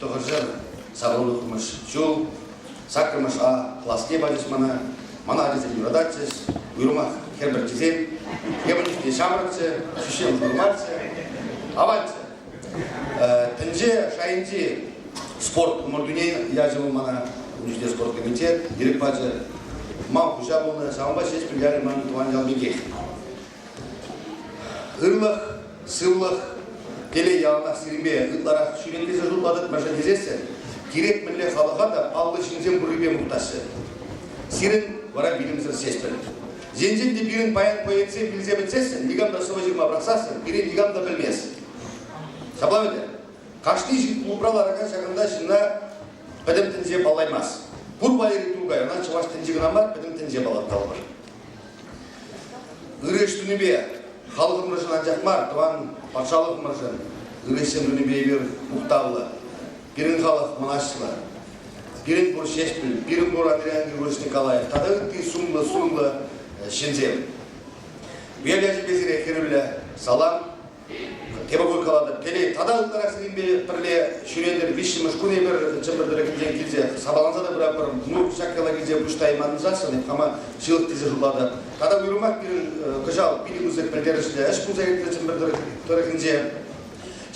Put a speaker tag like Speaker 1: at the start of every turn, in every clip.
Speaker 1: Тӑхӑрҫӑр савӑнтармӑш ҫул саккӑрмӗш А класне пачӗҫ мана. Мана ачасем юрататчӗҫ. Уйрӑмах хӗр пӗрчисем ӳпкепӗнчӗҫ те ҫамрӑкчӗ, ҫӳҫем курматчӗ, аватчӗ. Тӗнче шайӗнчи спорт ӑмӑртуне ячӗ вӑл мана. Ун чухне спорт комитет ирӗк пачӗ. Мал хуҫа пулнӑ, ҫавӑнпа ҫеҫ пӗлтерӗ ман тӑван ял пекех. Ырлӑх, сывлӑх, телей явӑнаксемпе ытларах ҫӳренкелесе шутлатӑп, мӗншӗн тесессӗн кирек мӗнле халӑха та паллӑ ҫынсем пуррипе мухтаҫҫӗ. Сирӗн вара вилӗмсӗр ҫеҫпӗл. Енчен те пирӗн паян поэтсем вилсе пӗтсессӗн, никам та сӑвӑ ҫырма пӑрахсассӑн пирӗн никам та пӗлмест. Ҫапла ӗнтӗ. Кашни ҫын клубра ларакан ҫакӑнта ҫынна пӗтӗм тӗнче паллаймасть. Пур валери Туркай, ӑна чӑваш тӗнчи кӑна мар, пӗтӗм тӗнче паллаттармӑш. Ырӑ ӗҫ тунипе халӑхӑмӑршӑн анчах мар, тӑван патшалӑхӑмӑршӑн ырӑҫсем тунипе эпир мухтавлӑ. Пирӗн халӑх мӑнаҫлӑ. Пирӗн пур Ҫеҫпӗл, пирӗн пур Адриян Григорьевич Николаев тата ытти сумлӑ-сумлӑ ҫынсем. Вел ячӗпе сире хӗрӳллӗ салам, педагог каланӑ телей тата ытларахсеренпе пӗрле ҫӳретӗр виҫҫӗмӗш кун эпир чӗпӗртӗрӗкӗнчен килсе сапаланса та пыратпӑр внук ҫак яла килсе пуҫ тайманшасшӑн эп хама ҫылӑх тесе шутлатӑп тата уйрӑмах пирӗн кӑҫал питӗ пысӑк пӗлтерӗшлӗ ӗҫ пулса иртрӗ чӗпӗртӗрӗк тӑрӑхӗнче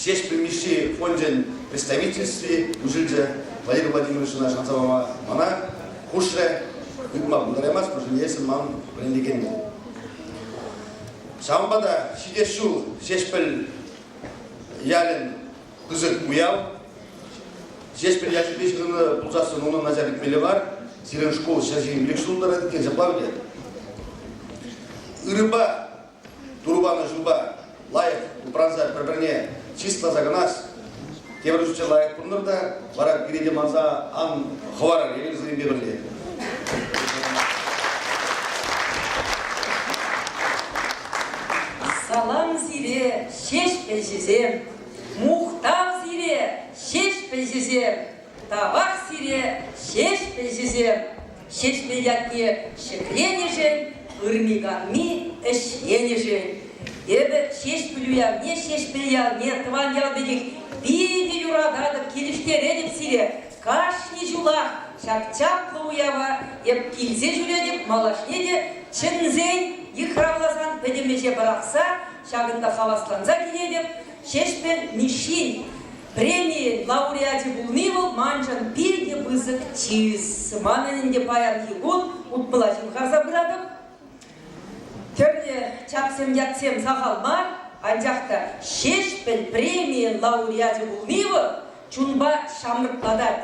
Speaker 1: Ҫеҫпӗл Мишши фончӗн представительстви уҫӑлчӗ Валерий Владимировична шанса пама мана хушрӗ ыйтма пултараймасть потому что есть ман вӗрентекенне Ҫавӑнпа та ҫитес ҫул Ҫеҫпӗл ялӗн пысӑк уяв. Ҫеҫпӗл ялӗпе ҫыхӑннӑ пулсассӑн унӑн начальник мелӗ бар. Сирӗн шкул ҫӗр ирӗк ҫул тӑрать иккен ҫапла ӗнтӗ. Ырӑпа, турӑ панӑ ҫулпа лайӑх упранса пӗр-пӗрне чысласа кӑнас, тепӗр чучча лайӑх пулнӑр та вара пире те манса ан хӑварӑр эпӗ пӗрле. Салам сире, ҫеҫпӗлҫисем! Мухтав сире, ҫеҫпӗлҫисем! Тавах сире, ҫеҫпӗлҫисем! Ҫеҫпӗл ятне ҫӗкленӗшӗн, ырми-канми ӗҫленӗшӗн эпӗ Ҫеҫпӗл уявне Ҫеҫпӗл ялне, тӑван ял пекех питӗ юрататӑп, килӗштеретӗп сире. Кашни ҫулах ҫак чаплӑ уява эп килсе ҫӳретӗп, малашне те чӗнсен, йыхравласан, пӗтӗм ӗҫе пӑрахса, ҫакӑнта хавасланса килетӗп. Ҫеҫпӗл Мишшин преми лауреачӗ пулни вӑл маншӑн питӗ пысӑк чыс. Манӑн ӗнтӗ паянхи кун утмӑла ҫывхарса пыратӑп. Тӗрлӗ чапсем, ятсем сахал мар, анчах та Ҫеҫпӗл премийӗн лауреачӗ пулни вӑл чунпа ҫамрӑклатать,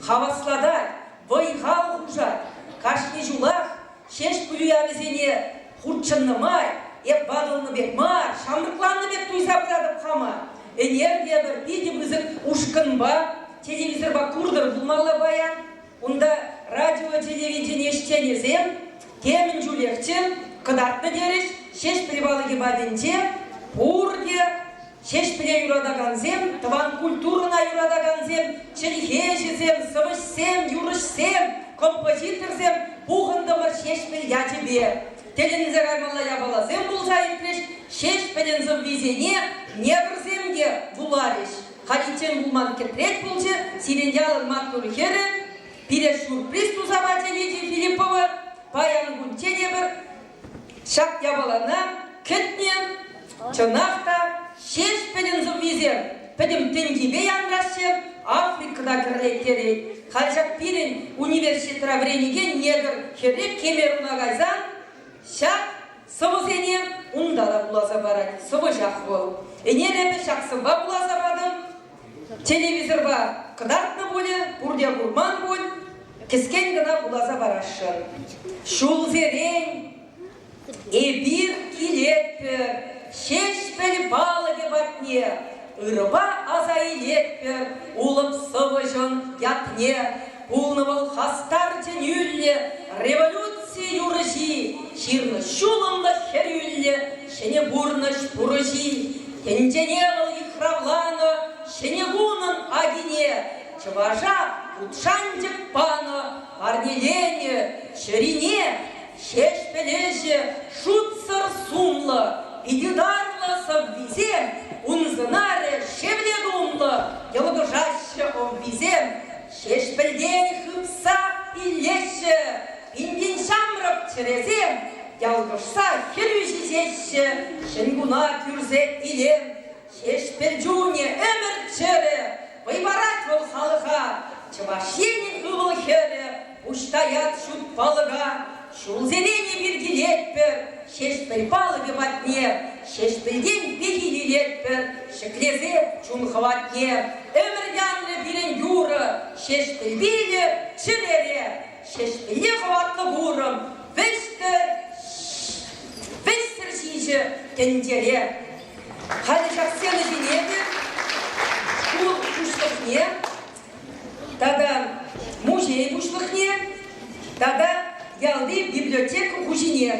Speaker 1: хаваслатать, вӑй-хал хушать. Кашни ҫулах Ҫеҫпӗл уявӗсене хутшӑннӑ май эп ватӑлнӑ пек мар, ҫамрӑкланнӑ пек туйса пыратӑп хама. Ӗнер те пӗр питӗ пысӑк ушкӑнпа, телевизорпа куртӑр пулмалла паян. Унта радио-телевидени ӗҫченӗсем темӗн чулехчӗ кӑтартнӑ терӗҫ. Ҫеҫпӗл палӑкӗ патӗнче пурте Ҫеҫпӗле юратакансем, тӑван культурӑна юратакансем, чӗлхе ӗҫӗсем, сӑвӑҫсем, юрӑҫсем, композиторсем пухӑнтӑмӑр Ҫеҫпӗл ячӗпе. Тӗлӗнсе каймалла япаласем пулса иртрӗҫ, Ҫеҫпӗлӗн сӑввисене негрсем те вуларӗҫ. Халиччен пулман кӗтрет пулчӗ сирӗн ялӑн маттур хӗрӗ. Пире сюрприз туса пачӗ Лидия Филиппова. Паян кунччен эпӗр Ҫак япалана кӗтнӗ чӑнах та Ҫеҫпӗлӗн сӑввисем пӗтӗм тӗнчипе янраҫҫӗ, Африкӑна кӗрлеттерет. Халь ҫак пирӗн университетра вӗренекен негр хӗрре Кемеруна кайсан ҫак сӑвӑсене унта та вуласа парать. Сӑвӑҫах вӑл. Ӗнер эпӗ ҫак сӑвва вуласа патӑм. Телевизорпа кӑтартнӑ пулӗ, пурте курман пуль, кӗскен кӑна вуласа парасшӑн. Ҫулсерен эпир килетпӗр Ҫеҫпӗл палӑкӗ патне, ырӑпа аса илетпӗр улӑп сӑвӑҫӑн ятне. Пулнӑ вӑл хастар тӗнӳллӗ, революци юрӑҫи, ҫырнӑ ҫулӑмлӑ хӗрӳллӗ ҫӗнӗ пурнӑҫ пурӑҫи. Тӗнчене вӑл йыхравланӑ ҫӗнӗ кунӑн акине, чӑваша вут шанчӑк панӑ, парнеленӗ чӗрине. Ҫеҫпӗл ӗҫӗ шутсӑр сумлӑ, питӗ тарлӑ сӑввисем ун сӑнарӗ шевле тумлӑ, йӑлкӑшаҫҫӗ ӑввисем. Ҫеҫпӗлтен хыпса илеҫҫӗ, пин-пин ҫамрӑк чӗресем ялкӑшса хӗрӳ ҫиҫеҫҫӗ. Ҫӗнкуна кӳрсе илем Ҫеҫпӗл чунӗ ӗмӗр чӗрӗ, вӑй парать вӑл халӑха. Чӑваш Енӗн ывӑл-хӗрӗ пуҫ таять ҫут палӑка, Ҫулсерен эпир килетпӗр Ҫеҫпӗл палӑкӗ патне, Ҫеҫпӗлтен пехил илетпӗр ҫӗклесе чун хӑватне. Ӗмӗр янрӗ пирӗн юрӑ Ҫеҫпӗл вилӗр чӗрере, Ҫеҫпӗлне хӑватлӑ курӑм вӗҫтӗр, Вӗҫтӗр ҫиҫӗ тӗнчере. Халӗ ҫак сцена ҫине те шкул пуҫлӑхне тата музей пуҫлӑхне тата ялти библиотека хуҫине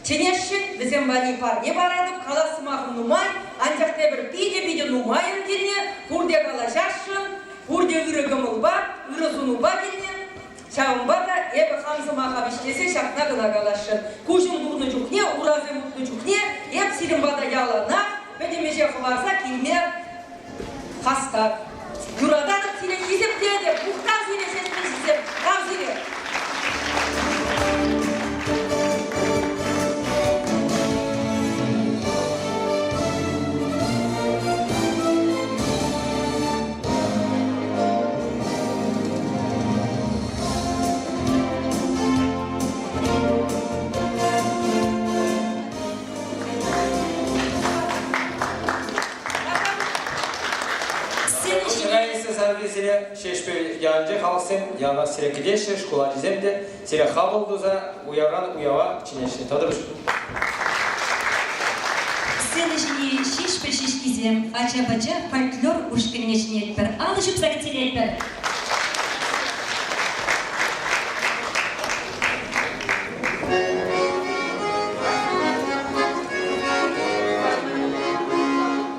Speaker 1: чӗнесшӗн. Вӗсем валли парне паратӑп. Калас сӑмахӑм нумай, анчах тепӗр питӗ-питӗ нумайӑн килне пурте калаҫасшӑн, пурте ырӑ кӑмӑлпа, ырӑ сунупа килнӗ. Ҫавӑнпа та эпӗ хам сӑмаха вӗҫлесе ҫакна кӑна каласшӑн, куҫӑм курнӑ чухне, урахӗ мутнӑ чухне эп сирӗн пата яланах пӗтӗм ӗҫе хӑварса килме хастар. Юрататӑп сире, хисеп тетӗп, мухтав сире, сестричсем, тав сире! Ҫӗнӗ Ҫӗпрел сасартӑк сире Ҫеҫпӗл ялӗнче халӑхсем яланах сире кӗтеҫҫӗ, шкул ачисем те Сире хапӑл туса уявран уява чӗнеҫҫӗ тӑтӑрӑш. Сцена ҫине Ҫеҫпӗл ҫеҫкисем, ача-пӑча фольклор ушкӑнне чӗнетпӗр, алӑ ҫупса ӳстеретпӗр.